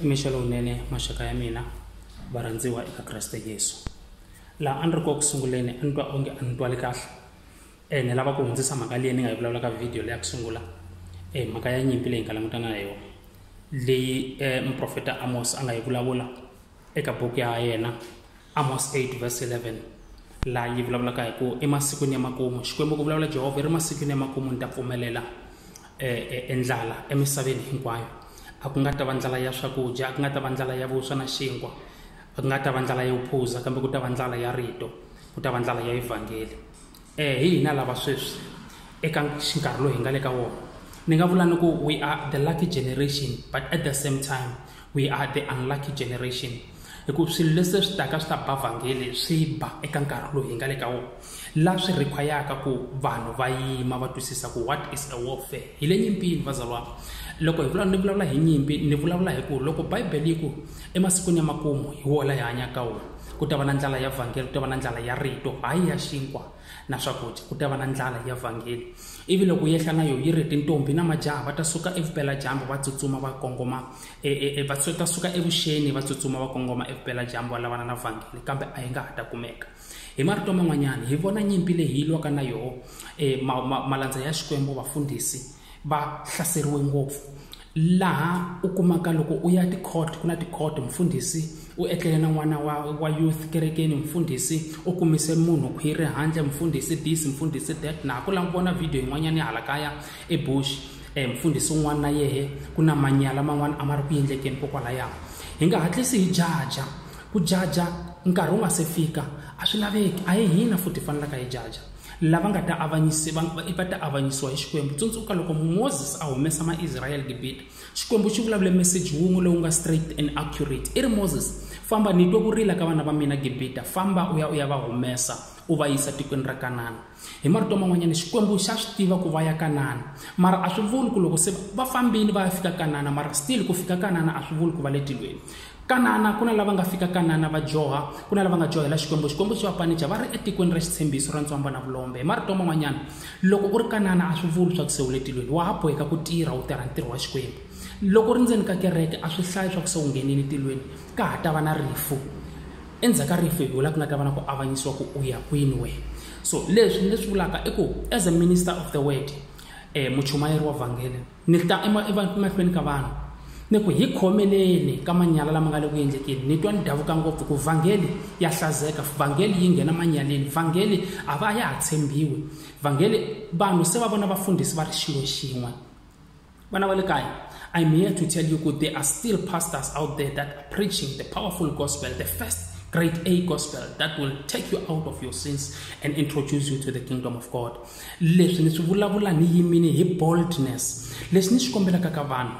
mixo lowunene maxaka ya mina varhandziwa eka kreste yesu laha a ni ri koku sunguleni a ni twa onge a ni twali kahle um ni lava ku hundzisa mhaka leyi ni nga yi vulavula ka vhidiyo leyi ya ku sungula um mhaka ya nyimpi leyi hi nga langutana na yona leyi um muprofeta amos a nga yi vulavula eka buku ya yena amos 8 verse 11 laha yi vulavulaka hi ku emasikwini ya makumu xikwembu ku vulavula jehovha yi ri masikwini ya makumu ni ta pfumelela endlala e, e, emisaveni hinkwayo a ku nga ta va ndlala ya swakudya a ku nga ta va ndlala ya vuswa na xinkwa a ku nga ta va ndlala ya vuphuza kambe ku ta va ndlala ya rito ku ta va ndlala ya evhangeli E hi hina lava sweswi eka xinkarhi lowu hi nga le ka wona ni nga vula ni ku we are the lucky generation but at the same time we are the unlucky generation hikuva swilo leswi swi taka swi ta ba vhangeli swi ba eka nkarhi lowu hi nga le ka wona la swi require-aka ku vanhu va yima va twisisa ku what is a warfare hi le nyimpini vazalwana loko hi vula ni vulavula hi nyimpi ni vulavula hi ku loko bibele yi ku emasikwini ya makumu hi wona hi hanyaka wona ku ta va na ndlala ya vhangeli ku ta va na ndlala ya rito hayi ya xinkwa na swakudya ku ta va na ndlala ya vhangeli ivi loko yehla na yo yi ri tintombi na majaha va ta suka evupeladyambu va tsutsuma va kongoma e, e, e, va ta suka evuxeni va tsutsuma va kongoma evupeladyambu va lavana na vhangeli kambe a yi nga ha ta kumeka hi marito man'wanyana hi vona nyimpi leyi yi lwaka na yoho um malandza ya xikwembu vafundhisi va hlaseriwe ngopfu laha u kumaka loko u ya ticourt ku na ticourt mfundhisi u etlele na n'wana wa wa youth kerekeni mfundhisi u kumise munhu khwiri handle mfundhisi this mfundhisi that na ha ku lava ku vona video yin'wanyana ya hala kaya ebush um mfundhisi un'wana na yehe ku na manyala man'wana a ma ri ku endlekeni kokwalaya hi nga hatlisi hi jaja ku jaja nkarhi wu nga se fika a swi laveki a hi hina futhi hi fanelaka hi jaja lava nga ta avanyisi va va ta avanyisiwa hi xikwembu tsundzuka loko moses a humesa maisrayele gibita xikwembu xi vulavule meseji wun'we lowu nga straight and accurate i ri moses famba ni twe ku rila ka vana va mina gibita famba u ya u ya va humesa u va yisa tikweni ra kanana hi marito man'wanyana xikwembu xa swi tiva ku va ya kanana mara a swi vuli ku loko se va fambile va ya fika kanana mara still ku fika kanana a swi vuli ku va le tilweni kanana ku na lava nga fika kanana va joha ku na lava nga johela xikwembu xikwembu xi va panica va ri etikweni ra xitshembiso ra ntswamba na vulombe hi marito man'wanyana loko u ri kanana a swi vuli swa ku se u le tilweni wa ha boheka ku tirha u tirha ntirho wa xikwembu loko u ri ndzeni ka kereke a swi hlayi swa ku se u nghenile tilweni ka ha ta va na rifu endzhaku ka rifu hi vula ku nga ta va na ku avanyisiwa ku u ya kwini wena so leswi ni leswi vulaka i ku as a minister of the word um muchumayeri wa vhangele Ni ta emahlweni ka vanhu ni ku hi khomeleni ka manyala lama nga le ku endlekeni ni twa ni davuka ngopfu ku vhangeli ya hlazeka vhangeli yi nghena manyaleni vhangeli a va ya ha tshembiwi vhangeli vanhu se va vona vafundhisi va ri xilo xin'we vana va le kaya i'm here to tell you ku there are still pastors out there that are preaching the powerful gospel the first great a gospel that will take you out of your sins and introduce you to the kingdom of god leswi ni swi vulavula ni yimile hi boldness leswi ni swi kombelaka ka vanhu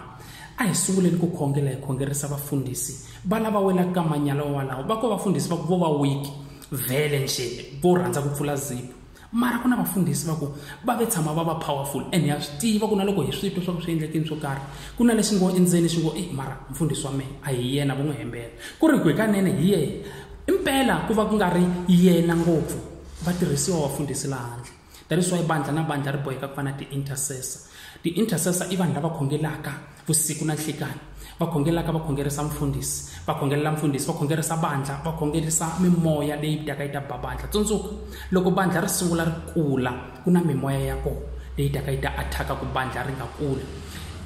a hi sunguleni ku khongela hi khongerisa vafundhisi va lava welaka ka manyala walawo va ko vafundhisi va ku vo va wiki vhele nje vo rhandza ku pfula zipo mara ku na vafundhisi va ku va ve tshama va va powerful and ha swi tiva ku na loko hi swi twa swa ku swi endlekini swo karhi ku na lexi ngo endzeni xi ngo e mara mfundhisi wa mehe a hi yena vo n'wi hembela ku ri ku hikanene hi yena impela ku va ku nga ri yena ngopfu vatirhisiwa vafundhisi la handle that is why bandla na bandla ri boheka ku va na ti-intercessor ti-intercessor i vanhu lava khongelaka vusiku na nhlikani va khongelaka va khongerisa mfundhisi va khongelela mfundhisi va khongerisa bandla va khongerisa mimoya leyi taka yi ta ba bandla tsundzuka loko bandla ri sungula ri kula ku na mimoya ya kona leyi taka yi ta athaka ku bandla ri nga kuli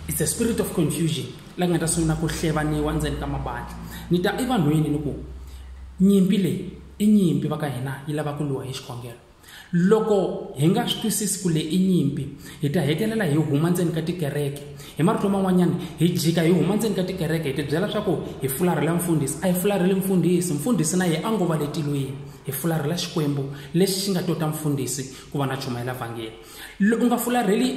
it's a spirit of confusion la nga ta sungula ku hlevaniwa ndzeni ka mabandla ni ta evanhwini ni ku nyimpi leyi i nyimpi va ka hina yi lava ku lwiwa hi xikhongelo loko hi nga swi twisisi ku le i nyimpi hi ta hetelela hi huma ndzeni ka tikereke hi marito man'wanyana hi jika hi huma ndzeni ka tikereke hi tibyela leswaku hi fularhela mfundhisi a hi fularheli mfundhisi mfundhisi na ye a ngo va le tilweni hi fularhela xikwembu lexi xi nga tota mfundhisi ku va na chumayela vhangeli u nga fularheli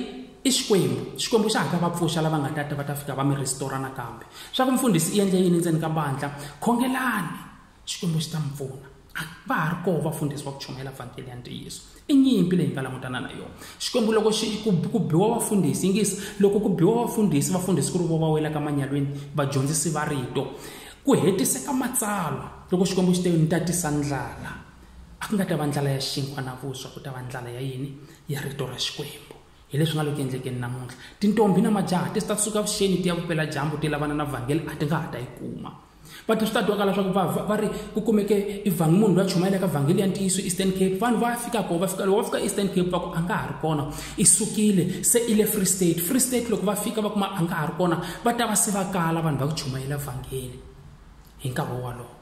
i xikwembu xikwembu xa ha ta va pfuxa lava nga ta ta va ta fika va mi rhisitora nakambe swa ku mfundhisi i endle yini ndzeni ka bandla khongelani Xikwembu xi ta mi pfuna. A va ha ri koho vafundhisi va ku chumayela vhangeli ya ntiyiso. I nyimpi leyi hi nga langutana na yona. Xikwembu loko xi ku ku biwa vafundhisi, yingisa, loko ku biwa vafundhisi, vafundhisi ku ri vo va welaka manyalweni, vadyondzisi va rito. Ku hetiseka matsalwa loko Xikwembu xi te ni ta tisa ndlala. A ku nga ta va ndlala ya xinkwa na vuswa, ku ta va ndlala ya yini? Ya rito ra Xikwembu. Hi leswi nga lo ku endlekeni namuntlha. Tintombhi na majaha ti ta suka vuxeni ti ya vupela dyambu ti lavana na vhangeli a ti nga ha ta yi kuma. va ti swi ta twakala swa ku va va ri ku kumeke ivhangi munhu loyi a chumayela ka vhangeli ya ntiyiso eastern cape vanhu va fika kona va fika loko va fika eastern cape va ku a nga ha ri kona i sukile se i le free state free state loko va fika va kuma a nga ha ri kona va ta va se va kala vanhu va ku chumayela vhangeli hi nkarhi wolowo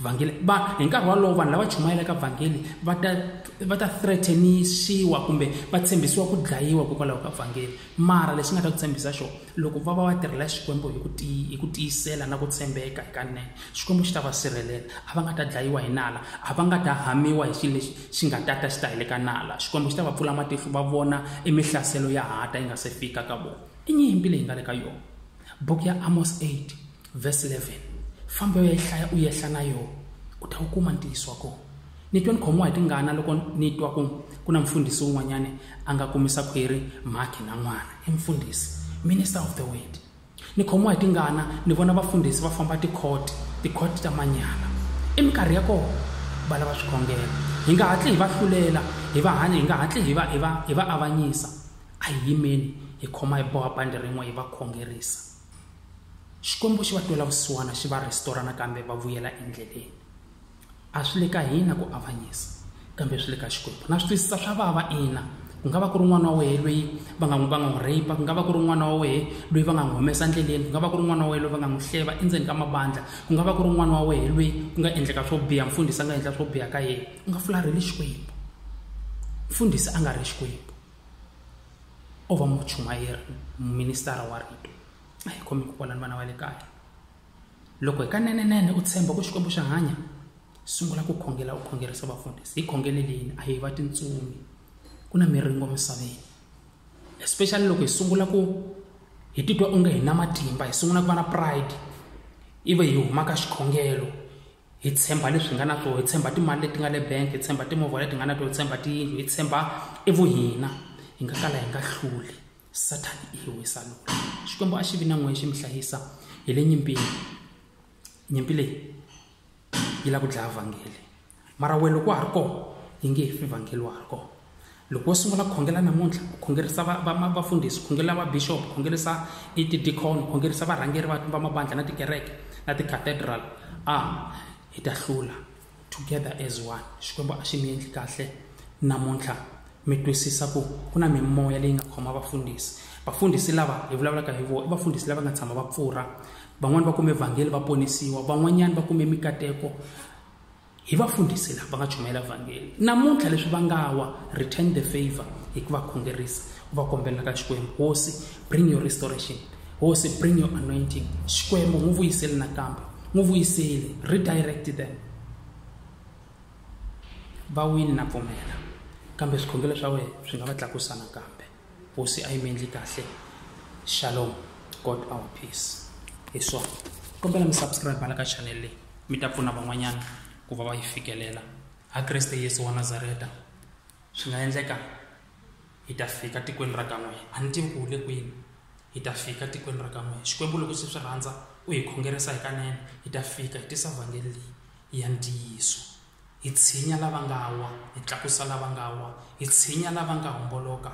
vhangeli va hi nkarhi wolowo vanhu lava chumayelaka vhangeli va ta va ta threatenisiwa kumbe va tshembisiwa ku dlayiwa hikokwalaho ka vhangeli mara lexi nga ta ku tshembisa xona Loko va va va tirhela Xikwembu hi ku tiyi, hi ku tiyisela na ku tshembeka hikanene, Xikwembu xi ta va sirhelela. A va nga ta dlayiwa hi nala, a va nga ta hamiwa hi xilo lexi xi nga ta ta xi ta heleka nala. Xikwembu xi ta va pfula matihlo va vona e mihlaselo ya ha ta yi nga se fika ka vona. I nyimpi leyi nga le ka yona. Buku ya Amos 8 vhesi 11 famba yo yi hlaya u yehla na yona u ta wu kuma ntiyiso wa kona ni twe ni khomiwa hi tingana loko ni twa ku ku na mfundhisi wun'wanyana a nga kumisa khwiri mhakhi na n'wana i mfundhisi minister of the word ni khomiwa hi tingana ni vona vafundhisi va famba tikhoti tikhoti ta manyala i minkarhi ya kona va lava swikhongelo hi nga hatli hi va hlulela hi va hanya hi nga hatli hi va hi va hi va avanyisa a hi yimeni hi khoma hi boha bandi rin'we hi va khongerisa xikwembu xi va twela vusiwana xi va rhestora nakambe va vuyela endleleni a swi le ka hina ku avanyisa kambe swi le ka xikwembu na swi twisisa swa vava ina ku nga va ku ri n'wana wa wehe loyi va nga n'wi va nga n'wi rape ku nga va ku ri n'wana wa wehe loyi va nga n'wi humesa endleleni ku nga va ku ri n'wana wa wehe loyi va nga n'wi hleva endzeni ka mabandla ku nga va ku ri n'wana wa wehe loyi ku nga endleka swo biha mfundhisi a nga endla swo biha ka yena u nga fularheli xikwembu mfundhisi a nga ri xikwembu o va muchumayeri muministara wa rito a hi khomi ku kwalani vana va le kaya loko hi ka nenenene u tshemba ku xikwembu xa hanya sungula ku khongela u khongerisa vafundhisi hi khongeleleni a hi va tintsumi ku na miringo misaveni especially loko hi sungula ku hi titwa onge hi na matimba hi sungula ku va na pride ivi hi humaka xikhongelo hi tshemba leswi hi nga na swona hi tshemba timali leti nga le bank hi tshemba timovha leti nga na tona hi tshemba tiyindlu hi tshemba evuhina hi nga kala hi nga hluli sathani i hi wisa loko xikwembu a xi vi na n'wehe xi mi hlayisa hi le nyimpini nyimpi leyi yi lava ku dlaya vhangeli mara wena loko wa ha ri kona yi nge he fi vhangeli wa ha ri kona loko wo sungula ku khongela namuntlha u khongerisa vafundhisi khongelela vabixop khongerisa itidikhon khongerisa varhangeri va mabandla na tikereke na ticathedral a hi ta hlula together as one xikwembu a xi mi endli kahle namuntlha mi twisisa ku ku na mimoya leyi nga khoma vafundhisi vafundhisi lava hi vulavulaka hi vona i vafundhisi lava nga tshama va pfurha van'wani va kume vhangeli va ponisiwa van'wanyani va kume mikateko hi va fundhisi lava nga chumayela vhangeli namuntlha leswi va nga wa return the favor hi ku va khongerisa u va kombela ka xikwembu hosi bring your restoration hosi bring your anointing xikwembu n'wi vuyiseli nakambe n'wi vuyiseli redirect them va wini na pfumela kambe swikhongelo swa wena swi nga va tlakusa nakambe hosi a yi mi endli kahle shalom god our peace hi swona kombela mi subscribe la ka channel leyi mi ta pfuna van'wanyana ku va va yi fikelela ha kreste yesu wa nazareta swi nga endleka hi ta fika tikweni ra ka n'we a ni tivi ku le kwini hi ta fika tikweni ra ka n'we xikwembu loko se swi rhandza u hi khongerisa hikanene hi ta fika hi tisa vhangeli leyi ya ntiyiso Hi tshinya lava nga wa, hi tlakusa lava nga wa, hi tshinya lava nga homboloka,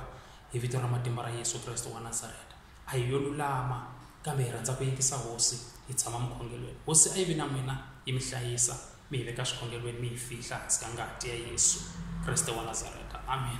hi vito ra matimba ra Yesu Kreste wa Nazareta. A hi yo lulama, kambe hi rhandza ku yingisa Hosi, hi tshama mukhongelweni. Hosi a yi vi na n'wina, yi mi hlayisa, mi hi veka swikhongelweni, mi hi fihla hansi ka ngati ya Yesu Kreste wa Nazareta. Amen.